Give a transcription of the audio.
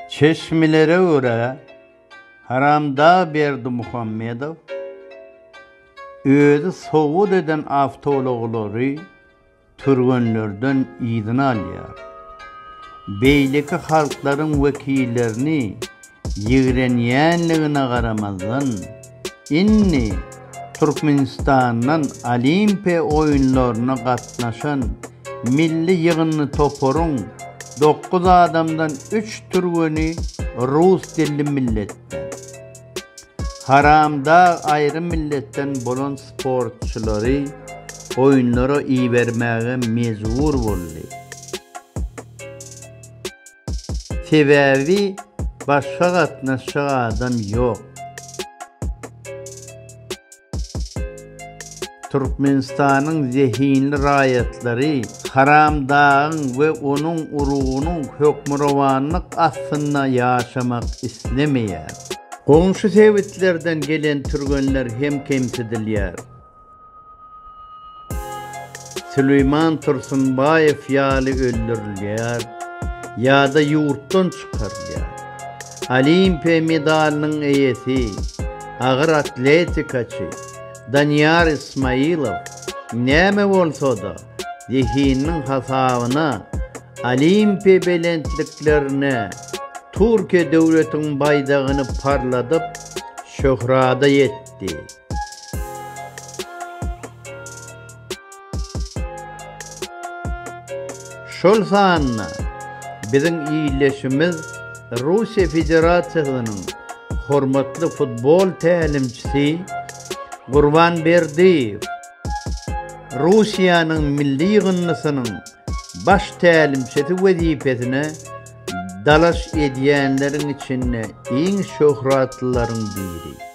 Çeşmelere görä, Haramdag Berdimuhamedow özi sowgat eden awtoulaglary türgenlerden yzyna alýar. Beýleki halklaryň wekillerini ýigrenýänligine garamazdan, Indi Türkmenistandan Olimpiýa oýunlaryna gatnaşan milli ýygyndy toparyň dokuz adamdan üç türgeni rus dilli milletden. Haramdag aýry milletden bolan sportçylary oýunlara ibermäge mejbur boldy. Sebäbi başga gatnaşjak adam ýok. Türkmenistanyň zehinli raýatlary Haram dagyň we onuň urugynyň hökmürowanlyk astynda ýaşamak islemeýär. Goňşy sebitlerden gelen türgenler hem kemsidilýär. Süleýman Tursunbaýew ýaly öldürilýär ýa-da ýurtdan çykarylýar. Olimpiýa medalynyň eýesi, agyr atletikaçy Danyýar Ismaýylow näme bolsa-da, zehininiň hasabyna Olimpiýa belentliklerine Türkiýe döwletiniň baýdagyny parladyp, şöhrada ýetdi. etdi. Şol sanda biziň ildeşimiz Russiýa Federasiýasynyň hormatly futbol tälimçisi Gurban Berdiýew, Russiýanyň milli ýygyndysynyň baş tälimçisi wezipesine dalaş edýänleriň içinde iň şöhratlylaryň biri.